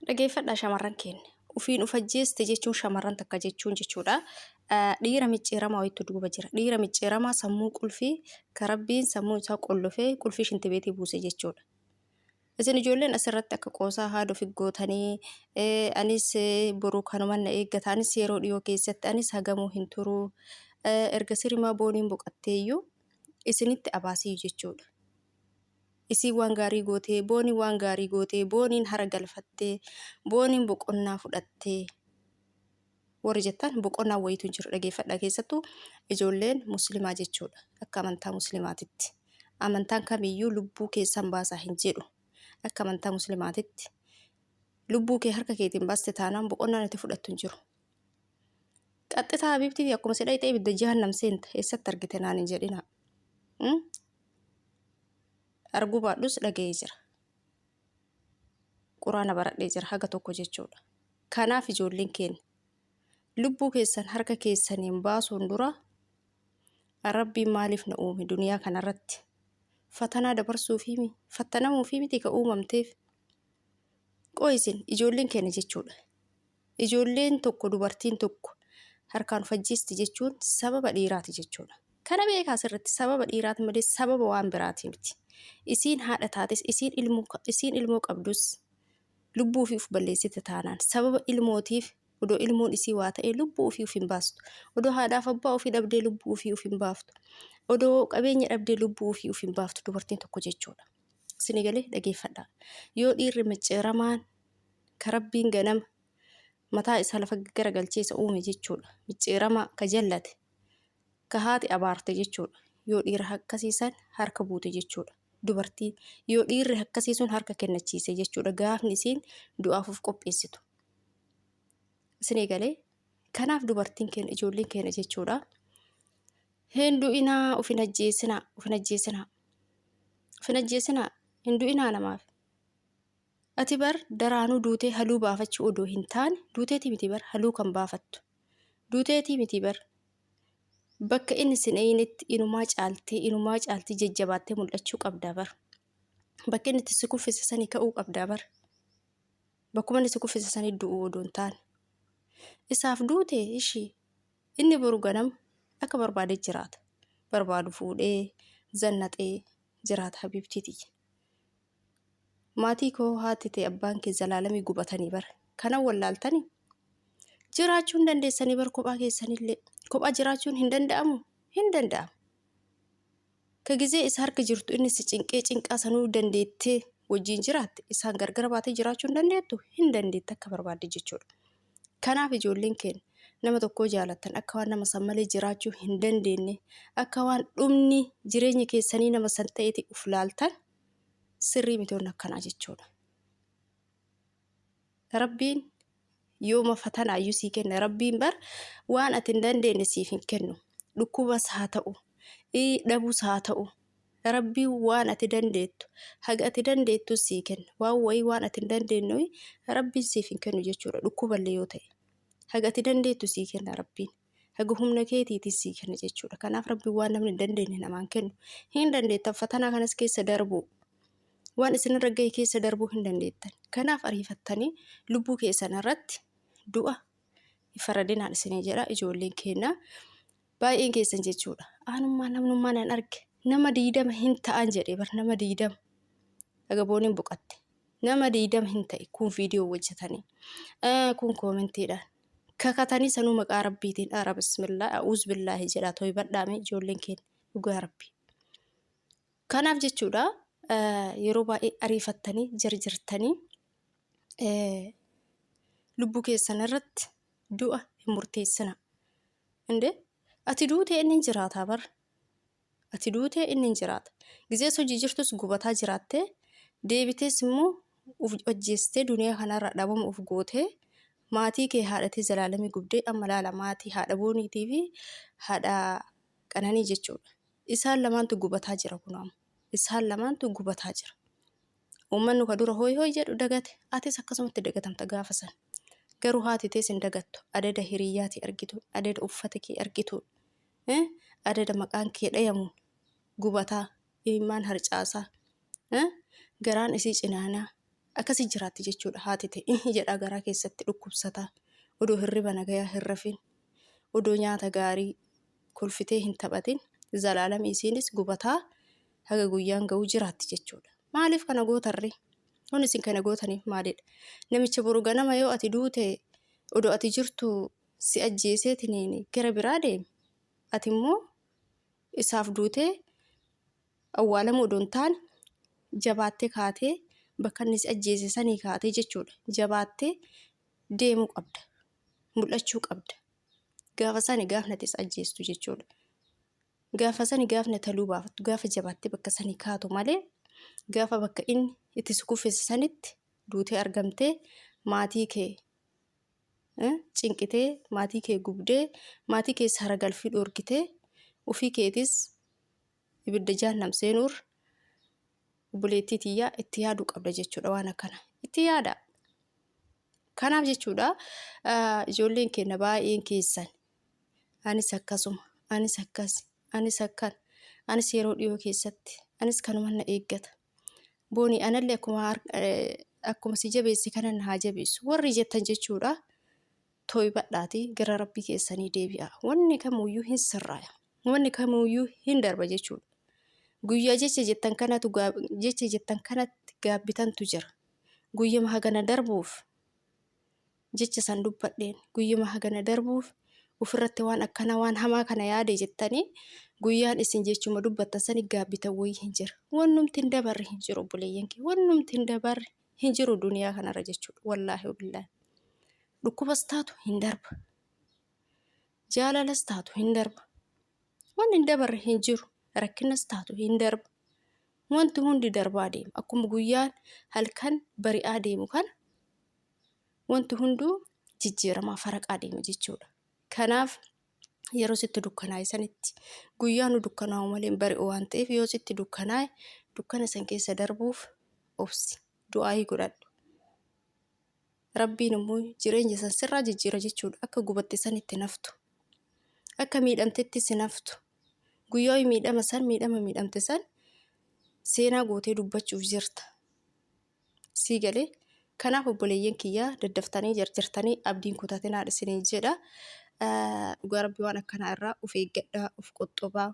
Dhageeffadhaa shamarran keenya. Ufiin uf ajjeeste jechuun shamarran takka jechuun jechuudha. Dhiira micciiramaa wayitu duuba jira. Dhiira micciiramaa sammuu qulfii ka rabbiin sammuu isaa qollofee qulfii shintibeetii buuse jechuudha. Isin ijoolleen asirratti akka qoosaa haadha ofi gootanii anis boru kanuman na eeggata anis yeroo dhiyoo keessatti anis hagamuu hin turu erga sirimaa booniin boqatteeyyuu isinitti abaasiyyu jechuudha. Isiin waan gaarii gootee, Booniin waan gaarii gootee, Booniin hara galfattee, Booniin boqonnaa fudhattee warri jettan boqonnaa wayiitu hin jiru dhageeffadha keessattuu ijoolleen muslimaa jechuudha akka amantaa muslimaatitti amantaan kamiyyuu lubbuu keessan baasaa hin jedhu akka amantaa muslimaatitti lubbuu kee harka keetiin baaste taanaan boqonnaan itti fudhattu hin jiru Qaxxisaa Habiibtiifi akkuma si dhayxee ibidda jahannam seenta eessatti argite naan hin jedhinaa. Hmm? Arguu baadhus dhaga'ee jira. Quraana baradhee jira haga tokko jechuudha. Kanaaf ijoolleen keenya lubbuu keessan harka keessaniin baasuun dura rabbiin maaliif na uume duniyaa kanarratti fatanaa dabarsuufi mi fattanamuufi miti ka uumamteef qo'isin ijoolleen keenya jechuudha. Ijoolleen tokko, dubartiin tokko, harkaan of ajjeesti jechuun sababa dhiiraati jechuudha. Kana beekaa asirratti sababa dhiiraati malee sababa waan biraati miti. Isiin haadha taates, isiin ilmoo, isiin ilmoo qabdus lubbuu ofii of balleessite taanaan sababa ilmootiif odoo ilmoon isii waa ta'ee lubbuu ofii of hin baastu. Odoo haadhaaf abbaa ofii dhabdee lubbuu ofii of hin baaftu. Odoo qabeenya dhabdee lubbuu ofii of hin baaftu dubartiin tokko jechuudha. Isinii galee dhageeffadhaa. Yoo dhiirri micciiramaan ka Rabbiin ganama mataa isaa lafa gaggaragalchee isa uume jechuudha. Micciiramaa ka jallate, ka haati abaarte jechuudha. Yoo dhiira akkasii san harka buute jechuudha. Dubartii yoo dhiirri akkasii sun harka kennachiise jechuudha. Gaafni isiin du'aaf of qopheessitu. Isin eegalee kanaaf dubartiin keenya ijoolleen keenya jechuudha. Hin du'inaa of hin ajjeesinaa of hin ajjeesinaa of hin ajjeesinaa hin du'inaa namaaf. Ati bar daraanuu duutee haluu baafachuu odoo hin taane duuteetii miti bar haluu kan baafattu. Duuteetii miti bar bakka inni sin eeynetti inumaa caaltee inumaa caaltii jajjabaattee mul'achuu qabdaa bar. Bakka inni itti si kuffise sanii ka'uu qabdaa bar. Bakkuma inni si kuffise sanii du'uu odoo hin taane. Isaaf duute ishii inni boru ganama akka barbaade jiraata. Barbaadu fuudhee zannaxee jiraata habiibtiiti. Maatii koo haati tee abbaan kee zalaalami gubatanii bar kana wallaaltani jiraachuu hin dandeessanii bar kophaa keessanillee kophaa jiraachuun hin danda'amu hin danda'amu ka gizee isa harka jirtu inni si cinqee cinqaa sanuu dandeettee wajjiin jiraatte isaan gargara baatee jiraachuu hin dandeettu hin dandeette akka barbaadde jechuudha kanaaf ijoolleen keenya nama tokkoo jaalattan akka waan nama san malee jiraachuu hin dandeenye akka waan dhumni jireenya keessanii nama san ta'eeti uf laaltan sirrii miti wanni akkanaa jechuudha. Rabbiin yooma fatana ayyuu sii kenna rabbiin bar waan ati hin dandeenye siif hin kennu dhukkubas haa ta'u dhabus haa ta'u rabbiin waan ati dandeettu haga ati dandeettu sii kenna waan wayii waan ati hin dandeenye rabbiin siif hin kennu jechuudha dhukkuballee yoo ta'e haga ati dandeettu sii kenna rabbiin. haga humna keetiitis sii kenna jechuudha. Kanaaf rabbi waan namni hin dandeenye namaan kennu hin dandeettan fatanaa kanas keessa darbuu waan isinirra gahe keessa darbuu hin dandeettan. Kanaaf ariifattanii lubbuu keessan irratti du'a hin faradinaan isinii jedha ijoolleen keenya baay'een keessan jechuudha. Aanummaa namnummaa nan arge nama diidama hin ta'an jedhee bar nama diidama agabooniin boqatte nama diidama hin ta'e kun viidiyoo hojjetanii kun koomentiidhaan. Kakatanii sanuu maqaa rabbiitiin ara bismillah a'uuz billaahi jedhaa toybadhaa mee ijoolleen keenya dhugaa rabbii. Kanaaf jechuudha yeroo baay'ee ariifattanii jarjartanii lubbuu keessan irratti du'a hin murteessina. Indee ati duutee inni hin jiraataa bara. Ati duute, inni hin jiraata. Gizee osoo jijirtus gubataa jiraattee, deebitees immoo uf ajjeestee duniyaa kanarraa dhabama uf gootee, maatii kee haadha tee Zalaalamii gubdee, amma laala maatii haadha Booniitii fi haadha Qananii jechuudha. Isaan lamaantu gubataa jira kunoo amma. Isaan lamaantu gubataa jira. Uummannu ka dura hooy hooy jedhu dagate, atis akkasumatti dagatamta gaafa san. Garuu haati tees hin dagattu. Adada hiriyyaatii argituun, adada uffata kee argituun. eh, adada maqaan kee dhayamu gubataa imimmaan harcaasaa eh, garaan isii cinaanaa akkasi jiraatti jechuudha haati ta'e eh, jedhaa garaa keessatti dhukkubsataa odoo hirriba nagayaa hin rafin odoo nyaata gaarii kolfitee hin taphatin zalaalami isiinis gubataa haga guyyaan ga'uu jiraatti jechuudha maaliif kana gootarre kun isin kana gootaniif maalidha namicha boru ganama yoo ati duute odoo ati jirtu si ajjeeseetiniin gara biraa deeme, ati immoo isaaf duutee awwaalamuu odoo hin taane jabaattee kaatee bakka inni si ajjeese sanii kaatee jechuudha. Jabaattee deemuu qabda. Mul'achuu qabda. Gaafa sani gaafni ati isa ajjeestu jechuudha. Gaafa sani gaafni ati haluu baafattu gaafa jabaattee bakka sanii kaatu malee gaafa bakka inni itti si kuffise sanitti duutee argamtee maatii kee cinqitee maatii kee gubdee maatii keessa haragalfii dhoorgitee ufii keetis ibidda jaannam seenuur obboleettii tiyyaa itti yaaduu qabda jechuudha waan akkana itti yaada kanaaf jechuudha ijoolleen keenya baay'een keessan anis akkasuma anis akkas anis akkan anis yeroo dhiyoo keessatti anis kanuma na eeggata Booni anallee akkuma har- eh, akkuma si jabeesse kanan haa jabeessu warri jettan jechuudha toybadhaati gara rabbii keessanii deebi'a wanni kamuyyuu hin sirraaya wanni kamuyyuu hin darba jechuudha guyyaa jecha jettan kanatu gaab- jecha jettan kanatti gaabbitantu jira guyyama hagana darbuuf jecha san dubbadheen guyyuma hagana darbuuf ufirratti waan akkana waan hamaa kana yaade jettanii guyyaan isin jechuma dubbattan sani gaabbitan wayii hin jira wannumti hin dabarre hin jiru obboleeyyan kee wannumti hin dabarre hin jiru duniyaa kanarra jechuudha wallaahi wabillaahi dhukkubas taatu hin darba jaalalas taatu hin darba waan hin dabarre hin jiru rakkinas taatu hin darba wanti hundi darbaa deema akkuma guyyaan halkan bari'aa deemu kana wanti hunduu jijjiiramaa faraqaa deema jechuudha. Kanaaf yeroo sitti dukkanaa'e sanitti guyyaa nu dukkanaa'u malee bari'u waan ta'eef yoo sitti dukkanaa'e dukkana san keessa darbuuf obsi du'aayii godhadhu. Rabbiin immoo jireenya san sirraa jijjiira jechuudha akka gubatte sanitti naftu akka miidhamtetti si naftu guyyaa miidhama san miidhama miidhamte san seenaa gootee dubbachuuf jirta. Sii galee? Kanaaf obboleeyyan kiyya daddaftanii jarjartanii abdiin kutatinaan isiniin jedha. Dhugaa rabbi waan akkanaa irraa of eeggadhaa, of qoxxobaa.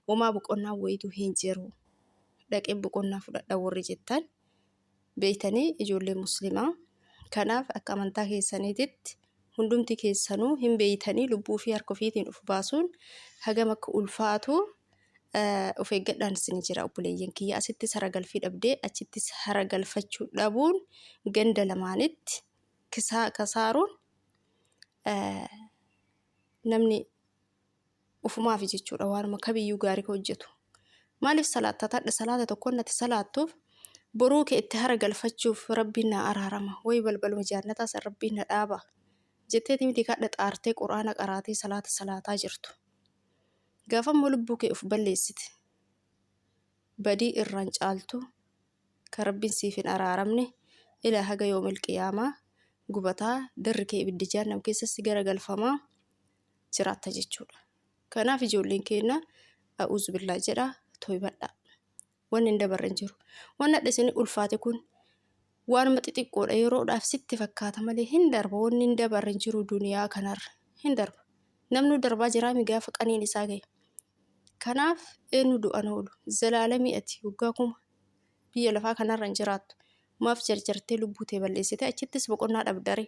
Homaa boqonnaa wayitu hin jiru. Dhaqeen boqonnaa fudhadha warri jettan beeytanii ijoollee muslimaa. Kanaaf akka amantaa keessaniititti hundumti keessanuu hin beeytanii lubbuu fi harka ofiitiin uf baasuun hagam akka ulfaatu uf eeggadhaan isin jira obboleeyyan kiyya asittis hara galfii dhabdee achittis hara galfachuu dhabuun ganda lamaanitti kisaaruun namni ufumaafi jechuudha waanuma kamiyyuu gaarii ka hojjetu maaliif salaatta tadha salaata tokkoon nati salaattuuf boruu kee itti hara galfachuuf rabbiin naa araarama way balbaluma jaannataa san rabbiin na dhaaba jetteeti miti kadha xaartee quraana qaraatee salaata salaataa jirtu gaafammoo lubbuu kee uf balleessite badii irraan caaltu ka rabbiin siif hin araaramne ilaa haga yoomil qiyaamaa gubataa garri kee ibiddi jaannam keessatti gara galfamaa jiraatta jechuudha. Kanaaf ijoolleen keenna a'uuzu billaa jedha toybadhaa. Wanni hin dabarre hin jiru. Wanni hadha isin ulfaate kun waanuma xixiqqoodha yeroodhaaf sitti fakkaata malee hin darba wanni hin dabarre hin jiru duniyaa kanarra hin darba. Namnu darbaa jiraa mi gaafa qaniin isaa gahe. Kanaaf eenyu du'an oolu zalaalamii ati waggaa kuma biyya lafaa kanarra hin jiraattu. Maaf jarjartee lubbuu tee balleessite achittis boqonnaa dhabdaree.